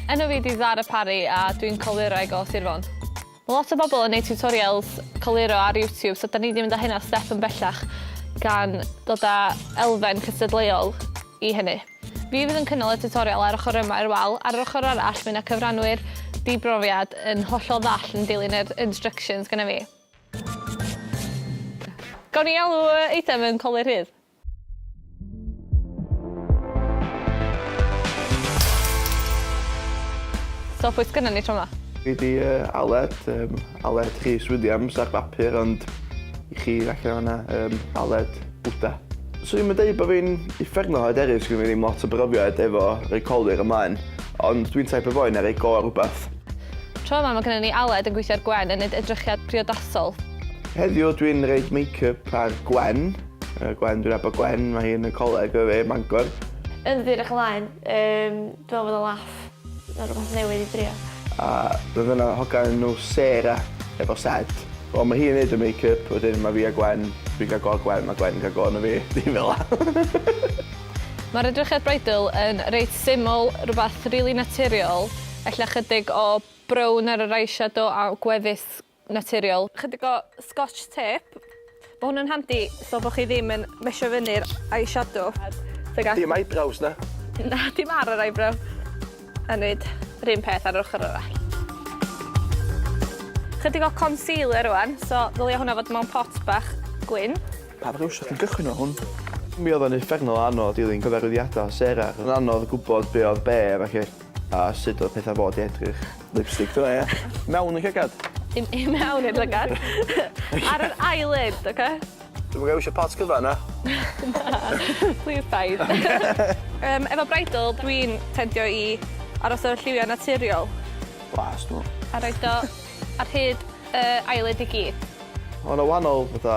Enw fi di Zara Parry a dwi'n coluraig o Sir Fôn. Mae lot o bobl yn neud tutorials coluro ar YouTube, so da ni wedi mynd â hynna step yn bellach gan dod â elfen cystadleuol i hynny. Fi fydd yn cynnal y tutorial ar ochr yma i'r wal, ar yr ochr arall mae yna cyfranwyr di-brofiad yn hollol ddall yn dilyn yr instructions gyda fi. Gawn ni alw y eitem yn Colur Rhydd? So pwy sgynnon ni tro 'ma? Fi di uh, Aled, um, Aled Rhys Williams ar bapur, ond i chi allan yna, um, Aled Bwyta. 'Swn i'm yn deud bod fi'n uffernol o hyderus, sgynno fi ddim lot o brofiad efo rhoi colur ymlaen, ond dwi'n taip o foi na rhoi go ar rhywbeth. Tro 'ma mae gynno ni Aled yn gweithio ar Gwen yn neud edrychiad priodasol. Heddiw dwi'n roid makeup ar Gwen. Gwen, dwi'n nabod Gwen, mae hi yn y coleg efo fi ym Mangor. Yndw dwi'n edrych ymlaen. Yym. Dw i'n meddwl bod o'n laff. Mae'n rhywbeth newydd i drio. A roedd yna hogan o'r enw Sarah efo sed. Wel mae hi'n neud y make up wedyn mae fi a Gwen, dwi'n cael go ar Gwen mae Gwen yn cael go arna fi, dim fel 'na. Mae'r edrychiad bridal yn reit syml, rhywbeth rili naturiol, ella chydig o brown ar yr eyeshadow a gwefus naturiol. Chydig o scotch tape. Mae hwn yn handi so bod chi ddim yn mesio fyny'r eyeshadow. Dim eyebrows na? Na, dim ar yr eyebrow. A wneud yr un peth ar yr ochr arall. Chydig o concealer rwan, so ddylia hwnna fod mewn pot bach gwyn. Pa brwsh ydych chi'n gychwyn o hwn? Mi oedd o'n uffernol o anodd dilyn cyfarwyddiadau Sarah. Roedd yn anodd gwybod be oedd be felly. A sut oedd pethau fod i edrych? Lipstick do ia? Mewn y llygad? Dim i mewn i'r llygad. Ar yr eyelid, oce? Dwi'm yn iwsio pot cyfan na. Na. Plîs paid. Yym efo bridal dwi'n tendio i aros efo lliwia' naturiol. Blas dw. A roid o ar hyd yy eyelid i gyd. Ma' 'na wahanol fatha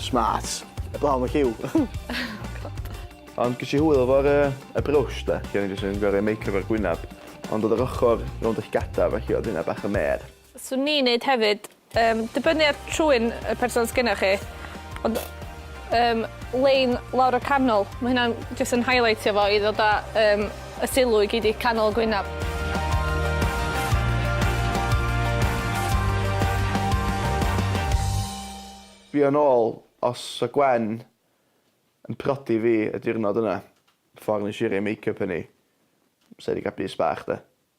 Smart. Heblaw am y lliw. Ond ges i hwyl efo'r yy y brwsh de, lle o'n i jyst yn gor'o' roi make up ar gwynab, ond o'dd yr ochor rownd y llygada' felly o'dd hynna bach yn mêr. Swn i'n neud hefyd, yym dibynnu ar trwyn y person sgennoch chi, ond yym lein lawr y canol, ma' hynna'n jyst yn highleitio fo i ddod â yym Y sylw i gyd i canol Gwynaf. Fi yn ôl os sa Gwen yn prodi fi y diwrnod yna, ffordd nes i roi make up yn i, sa i di cael bys bach de.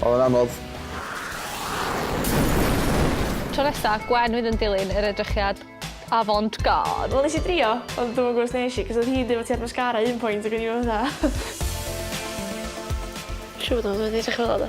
Oedd o'n anodd. Tro nesa, Gwen fydd yn dilyn yr edrychiad avant-garde. Wel nes i drio ond dwi'm yn gwbo os nesh i cos odd hi'n deud fo ti ar mascara un pwynt ag o'n i fel fatha Siŵr fod o wedi edrych fel 'a do?